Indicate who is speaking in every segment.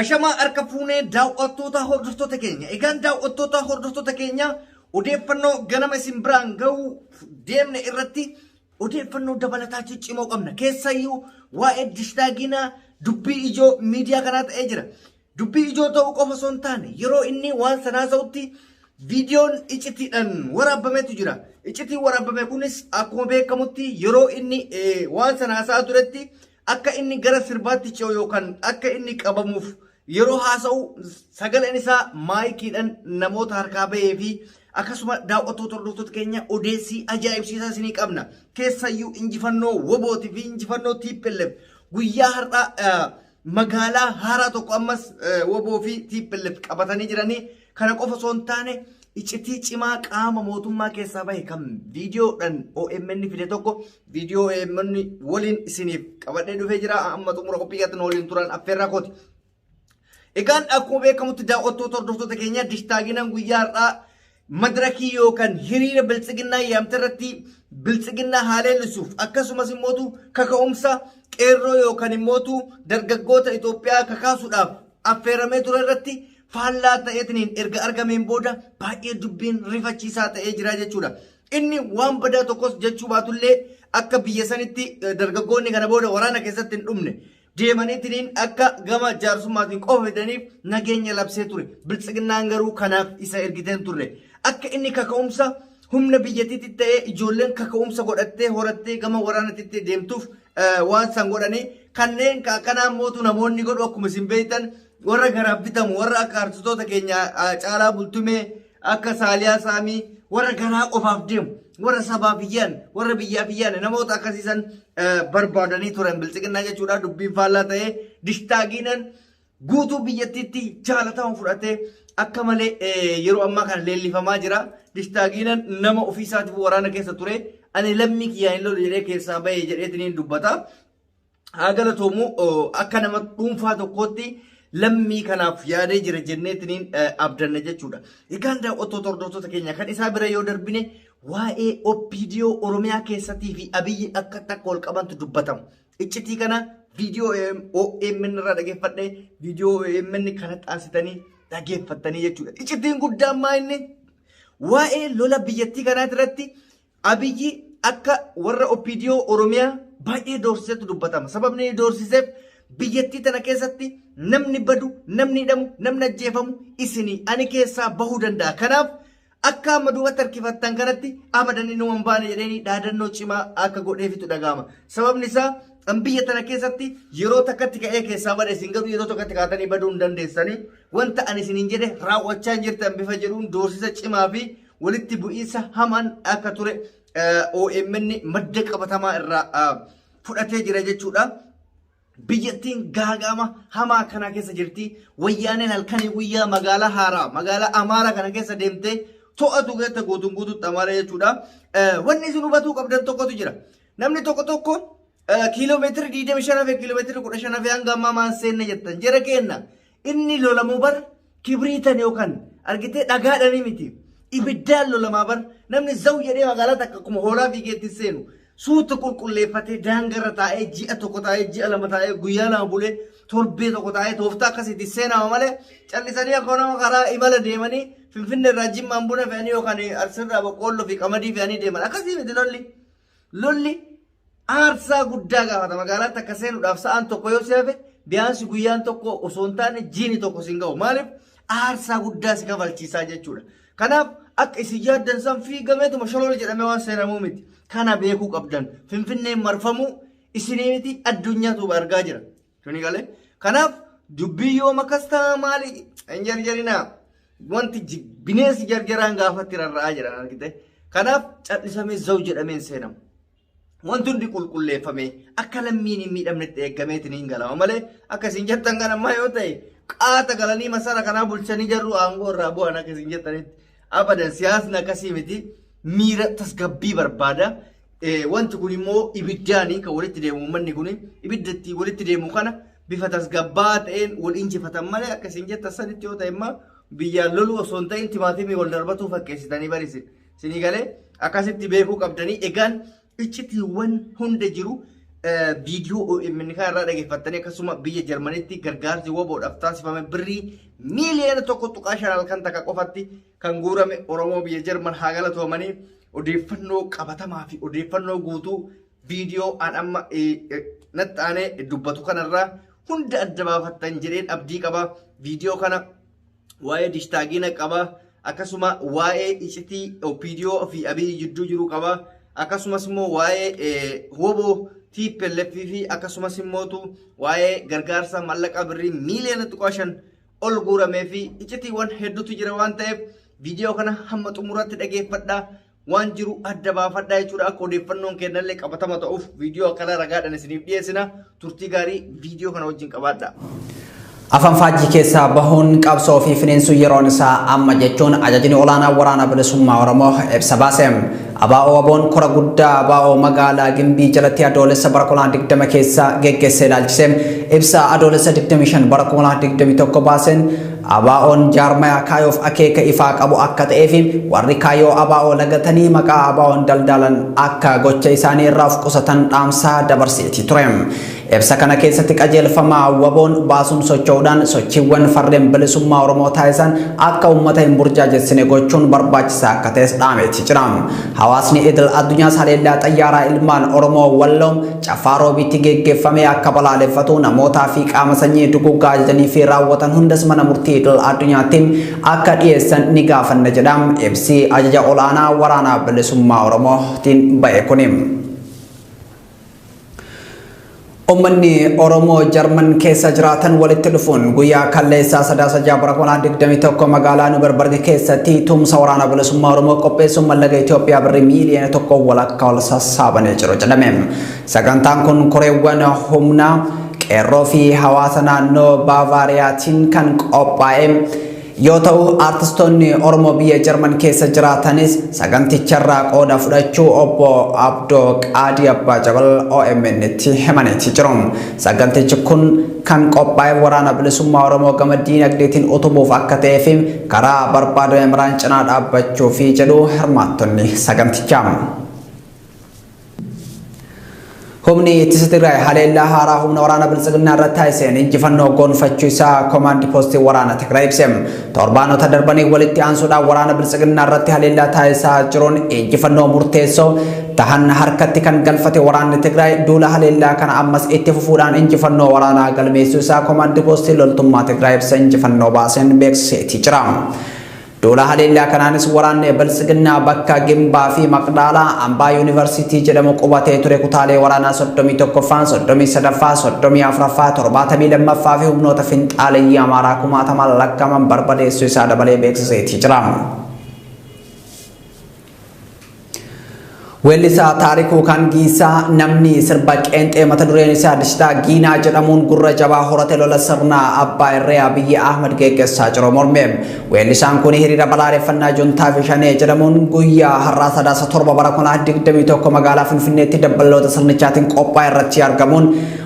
Speaker 1: Ashamaa harka fuunee daawwattootaa hordoftoota keenya. Egaan daawwattootaa hordoftoota keenya odeeffannoo ganama isin biraan ga'uu deemne irratti odeeffannoo dabalataa ciccimoo qabna. Keessayyuu waa'ee dishtaaginaa dubbii ijoo miidiyaa kanaa ta'ee jira. Dubbii ijoo ta'uu qofa osoo hin taane yeroo inni waan sanaa ta'utti viidiyoon icitiidhaan waraabbametu jira. Icitiin waraabbame kunis akkuma beekamutti yeroo inni waan sana haasa'aa turetti Akka inni gara sirbaatti ce'u yookaan akka inni qabamuuf yeroo haasa'u sagaleen isaa maayikiidhaan namoota harkaa bahee fi akkasuma daawwattoota hordoftoota keenya odeessii ajaa'ibsiisaa isinii qabna. Keessayyuu injifannoo wobooti fi injifannoo TPLF guyyaa har'aa eh, magaalaa haaraa tokko ammas eh, woboo fi TPLF qabatanii jiranii Kana qofa osoo hin taane icitii cimaa qaama mootummaa keessaa bahe kan viidiyoodhaan OMN fide tokko viidiyoo OMN waliin isiniif qabadhee dhufee jira amma xumura qophii keessatti nu waliin turan affeerraa kooti. Egaan akkuma beekamutti daawwattoota hordoftoota keenya dishtaaginaan guyyaa har'aa madirakii yookaan hiriira biltsiginnaa yaamte irratti biltsiginnaa haleellisuuf akkasumas immootu kaka'umsa qeerroo yookaan immootu dargaggoota Itoophiyaa kakaasuudhaaf affeeramee ture irratti faallaa ta'eetiniin erga argameen booda baay'ee dubbiin rifachiisaa ta'ee jira jechuudha. Inni waan badaa tokkos jechuu baatullee akka biyya sanitti eh, dargaggoonni kana booda waraana keessatti hin dhumne deemaniitiniin akka gama jaarsummaatiin qofa fidaniif nageenya labsee ture. Biltsiginnaan garuu kanaaf isa ergiteen turre. Akka inni kaka'umsa humna biyyattiitti ta'ee ijoolleen kaka'umsa godhattee horattee gama waraanatti deemtuuf eh, waan san godhanii kanneen ka- akkanaa mootu namoonni godhu akkuma isin beektan warra garaaf bitamu warra akka artistoota keenya ah, caalaa bultumee akka saaliyaa saamii warra garaa qofaaf deemu warra sabaaf iyyaan warra biyyaaf iyyaan namoota akkasiisan eh, barbaadanii turan bilxiqinnaa jechuudha dubbiin faallaa ta'ee dishtaagiinan guutuu biyyattiitti jaalatamu fudhatee akka malee eh, yeroo ammaa kana leellifamaa jira dishtaagiinan nama ofii isaatiif waraana keessa ture ani lammii kiyyaan hin lolu jedhee keessaa bahee jedheetiniin dubbata. haa galatoomu akka nama dhuunfaa tokkootti lammii kanaaf yaadee jira jenneetiniin abdanna jechuudha. Egaan daawwattoota hordoftoota keenya kan isaa bira yoo darbine waa'ee OPDO Oromiyaa keessatii fi Abiyyi akka takka ol qabantu dubbatama. Iccitii kana viidiyoo OMN irraa dhageeffadhee viidiyoo OMN kana taasitanii dhageeffattanii jechuudha. Iccitiin guddaan maa inni waa'ee lola biyyattii kanaa irratti Abiyyi akka warra OPDO Oromiyaa baay'ee doorsisetu dubbatama. Sababni inni doorsiseef biyyattii tana keessatti namni badu, namni hidhamu, namni ajjeefamu isinii ani keessaa bahuu danda'a. Kanaaf akka amma duubatti harkifattan kanatti abadan inni waan baane jedheenii dhaadannoo cimaa akka godheefitu dhaga'ama. Sababni isaa an biyya tana keessatti yeroo takkatti ka'ee keessaa bada isin garuu yeroo tokkotti kaatanii baduu hin dandeessanii wanta ani isiniin jedhe raawwachaa hin jirtan bifa jedhuun doorsisa cimaa fi walitti bu'iinsa hamaan akka ture OMN madda qabatamaa irraa fudhatee jira jechuudha. biyyattiin gaagaama hamaa kana keessa jirti. Wayyaaneen halkanii guyyaa magaalaa haaraa magaalaa Amaaraa kana keessa deemtee to'atu keessa guutuun guutuutti Amaaraa jechuudha. Wanni isin hubatuu qabdan tokkotu jira. Namni tokko tokko kiiloomeetira 25 fi kiiloomeetira 15 fi hanga ammaa maan seenne jettan jara keenna inni lolamu bar Kibriitan yookaan argitee dhagaadhanii miti. Ibiddaan lolamaa bar namni zawu jedhee magaalaa takka akkuma hoolaa fiigeetti seenu suuta qulqulleeffatee daangarra taa'ee ji'a tokko taa'ee ji'a lama taa'ee guyyaa lama bulee torbee tokko taa'ee tooftaa akkasiitti seenama malee callisanii akkuma nama karaa imala deemanii finfinne irraa jimmaan buna fe'anii yookaan arsirraa boqqoolloo fi qamadii fe'anii deeman akkasii miti lolli. Lolli aarsaa guddaa gaafata magaalaatti akka seenuudhaaf sa'aan tokko yoo si hafe biyaansi guyyaan tokko osoo hin taane jiini tokko siin ga'u maaliif aarsaa guddaa si kafalchiisaa jechuudha. Kanaaf akka isin yaaddan san fiigameetuma sholool jedhamee waan seenamuu miti. Kana beekuu qabdan finfinneen marfamuu isinii miti addunyaatu argaa jira. Tuni galee. Kanaaf dubbii yoo makas ta'a maali hin jarjarinaa. Wanti ji- bineensi jarjaraan gaafatti rarra'aa jiran argite. Kanaaf callisamee zau jedhamee hin seenamu. Wanti hundi qulqulleeffamee akka lammiin hin miidhamnetti eegameetiin hin galama malee akka isin jettan kan ammaa yoo ta'e qaata galanii masara kanaa bulchanii jarru aangoo irraa bu'an akka isin jettanitti abadan siyaasni akkasii miti miira tasgabbii barbaada. Wanti kun immoo ibiddaanii kan walitti deemu uummanni kun ibidda ittiin walitti deemu kana bifa tasgabbaa'aa ta'een wal injifatan malee akka isin jettan sanitti yoo ta'e immoo biyyaan loluu osoo hin ta'in timaatimii wal darbatuu fakkeessitanii barisin. Isinii galee akkasitti beekuu qabdanii egaan iccitiiwwan hunda jiru viidiyoo OMN kan irraa dhageeffattanii akkasuma biyya Jarmanitti gargaarsi waboodhaaf taasifame birrii miiliyoona tokko tuqaa shan halkan takka qofatti kan guurame Oromoo biyya Jarman haa galatoomanii odeeffannoo qabatamaa fi odeeffannoo guutuu viidiyoo an amma natti aanee dubbatu kanarraa hunda adda baafattan jedheen abdii qaba. Viidiyoo kana waa'ee dishtaagiina qaba. Akkasuma waa'ee icitii OPDO fi Abiyyi jidduu jiru qaba. Akkasumas immoo waa'ee woboo TPLF fi akkasumas immootu waa'ee gargaarsa mallaqa birrii miiliyoona xiqqoo shan ol guuramee fi icitiiwwan hedduutu jira waan ta'eef viidiyoo kana hamma xumuraatti dhageeffadhaa waan jiru adda baafadhaa jechuudha akka odeeffannoon kennallee qabatama ta'uuf viidiyoo akkana ragaadhaan isiniif dhiyeessina turtii gaarii viidiyoo kana wajjin qabaadhaa. Afaan
Speaker 2: faajjii keessaa bahuun qabsoo fi finiinsuu yeroon isaa amma jechuun ajajni olaanaa waraana bilisummaa Oromoo ibsa baase. ABO-WBOn kora guddaa ABO magaalaa Gimbii jalatti Adoolessa bara 2020 keessa geggeesse ilaalchise ibsa Adoolessa 25 bara 2021 baaseen ABOn jaarmayaa kaayoof akeeka ifaa qabu akka ta'ee fi warri kaayoo ABO lagatanii maqaa ABOn daldaalan akka gocha isaanii irraa of qusatan dhaamsaa dabarseetii ture. Ibsa kana keessatti qajeelfama waboon baasuun socho'uudhaan sochiiwwan farreen bilisummaa Oromoo taasisan akka uummata hin burjaajessine gochuun barbaachisaa akka ta'es dhaameeti jira. Hawaasni idil addunyaas haleellaa xayyaaraa ilmaan Oromoo Walloo Caffaa Roobiitti geggeeffame akka balaaleffatu namootaa fi qaama sanyii duguuggaa ajajanii fi raawwatan hundas mana murtii idil addunyaatti akka dhiyeessan ni gaafanna jedha ibsi ajaja ol'aanaa waraanaa bilisummaa Oromootiin ba'e kuni. Uummanni Oromoo Jarman keessa jiraatan walitti dhufuun guyyaa kalleessaa sadaasa ja'a bara 2021 magaalaa Nuberbarg keessatti tumsa waraana bilisummaa Oromoo qopheessuun mallaqa Itoophiyaa birrii miiliyoona tokko walakkaa ol sassaabanii jiru jedhame. Sagantaan kun koreewwan humnaa qeerroo fi hawaasa naannoo Baavaariyaatiin kan qophaa'e yoo ta'u aartistoonni Oromoo biyya Jarman keessa jiraatanis saganticharraa qooda fudhachuu obbo Abdoo Qaadii Abbaa Jabal OMN'tti himaniiti jiru. Sagantichi kun kan qophaa'e waraana bilisummaa Oromoo gama diinagdeetiin utubuuf akka ta'ee fi karaa barbaadame maraan cinaa dhaabbachuufi jedhu hirmaattonni sagantichaa. Humni ittisa Tigraay haleellaa haaraa humna waraana biltsiginnaa irratti taasiseen injifannoo gonfachuu isaa koomaandi poostii waraana Tigraay ibse. Torbaanota darbanii walitti aansuudhaan waraana biltsiginnaa irratti haleellaa taasisaa jiruun injifannoo murteessoo tahan harkatti kan galfate waraanni Tigraay duula haleellaa kana ammas itti fufuudhaan injifannoo waraanaa galmeessuu isaa koomaandi poostii loltummaa Tigraay ibsa injifannoo baaseen beeksiseetii jira. Duula haleellaa kanaanis waraanni Biltsiginnaa bakka Gimbaa fi Maqdaalaa, Ambaa Yuunivarsiitii jedhamu qubatee ture kutaalee waraanaa 31ffaan, 33ffaa, 34ffaa, 72ffaa fi humnoota finxaaleyyii Amaaraa kumaatamaan lakkaa'aman barbadeessuu isaa dabalee beeksiseetii jira. Weellisaa Taarikuu Kangiisaa namni sirba qeenxee mata dureen isaa Dishitaa Giinaa jedhamuun gurra jabaa horate lola sirna abbaa irree Abiyyi Ahmad geggessaa jiru morme. Weellisaan kun hiriira balaaleffannaa juntaa fi shanee jedhamuun guyyaa har'aa sadaasa torba bara 2021 magaalaa Finfinneetti dabballoota sirnichaatiin qophaa'e irratti argamuun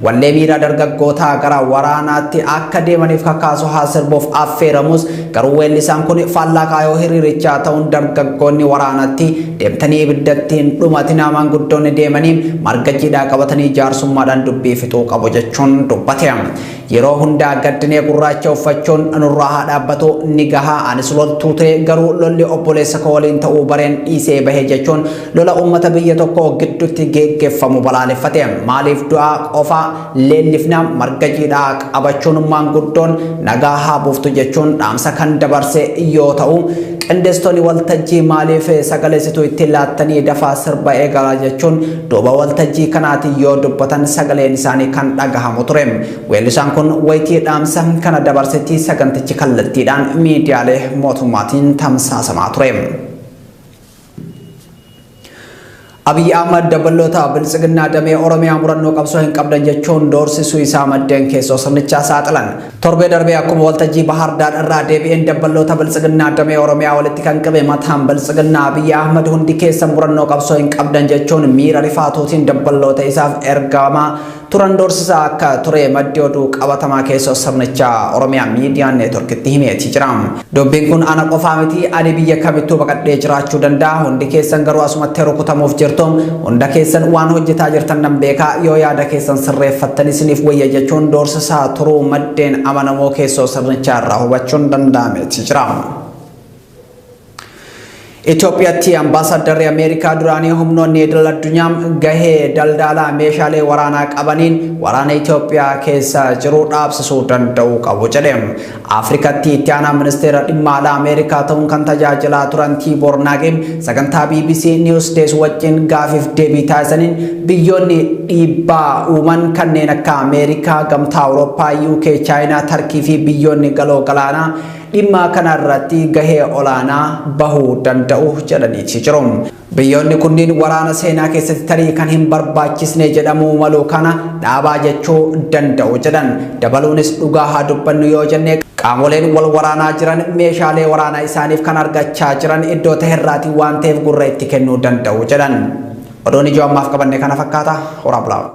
Speaker 2: Wallee miira dargaggootaa gara waraanaatti akka deemaniif kakaasu haa sirbuuf affeeramus garuu weellisaan kun faallaa kaayoo hiriirichaa ta'uun dargaggoonni waraanatti deemtanii ibiddatti hin dhumatinaa maanguddoonni deemanii marga jiidhaa qabatanii jaarsummaadhaan dubbii fixuu qabu jechuun dubbate. Yeroo hundaa gaddinee gurraacha uffachuun nurraa haa dhaabbatu ni gahaa anis loltuu ta'e garuu lolli obboleessa koo waliin ta'uu bareen dhiisee bahe jechuun Lola ummata biyya tokko giddutti geeggeffamu balaaleffate. Maaliif du'aa qofa leellifna marga jiidhaa qabachuun maanguddoon nagaa haa buuftu jechuun dhaamsa kan dabarse yoo ta'u, qindeessitoonni waltajjii maaliif sagaleessituu itti laattanii dafaa sirba eegalaa jechuun duuba waltajjii kanaatiin yoo dubbatan sagaleen isaanii kan dhagahamu ture. Weellisaan kun wayitii dhaamsa kana dabarsetti sagantichi kallattiidhaan miidiyaalee mootummaatiin tamsaasamaa ture. Abiy Ahmad dabballoota biltsiginnaa damee Oromiyaa murannoo qabsoo hin qabdan jechuun doorsisuu isaa maddeen keessoo sirnichaa saaxilan. Torbee darbee akkuma waltajjii Bahaar Daar irraa deebi'een dabballoota biltsiginnaa damee Oromiyaa walitti kan qabe mataan biltsiginnaa Abiy Ahmad hundi keessa murannoo qabsoo hin qabdan jechuun miira rifaatuutiin dabballoota isaaf ergama turan doorsisaa akka ture maddi oduu qabatamaa keessoo sirnichaa Oromiyaa Miidiyaan Neetworkitti himeeti jira. Dubbiin kun ana qofaa miti ani biyya kamittuu baqadhee jiraachuu danda'a hundi keessan garuu asumatti rukutamuuf jirtu hunda keessan waan hojjetaa jirtan nan beeka yoo yaada keessan sirreeffattan isiniif wayya jechuun doorsisaa turuu maddeen amanamoo keessoo sirnichaa irraa hubachuun danda'ameeti jira. Itoophiyaatti ambaasaaddarri Ameerikaa duraanii humnoonni idil addunyaa gahee daldalaa meeshaalee waraanaa qabaniin waraana Itoophiyaa keessa jiru dhaabsisuu danda'uu qabu jedhe. Afrikatti itti aanaa ministeera dhimma alaa Ameerikaa ta'uun kan tajaajilaa turan Tiiboor Naagin sagantaa BBC News Days wajjin gaafiif deebii taasisaniin biyyoonni dhiibbaa uuman kanneen akka Ameerikaa, Gamtaa Awurooppaa, UK, Chaayinaa, Tarkii fi biyyoonni galoo galaanaa dhimma kana irratti gahee olaanaa bahuu danda'u jedhaniiti jiru. Biyyoonni kunniin waraana seenaa keessatti tarii kan hin barbaachisne jedhamuu malu kana dhaabaa jechuu danda'u jedhan. Dabaluunis dhugaa haa dubbannu yoo jenne qaamoleen wal waraanaa jiran meeshaalee waraanaa isaaniif kan argachaa jiran iddoo taherraatii waan ta'eef gurra itti kennuu danda'u jedhan. Oduun ijoo ammaaf qabanne kana fakkaata. Horaa bulaa.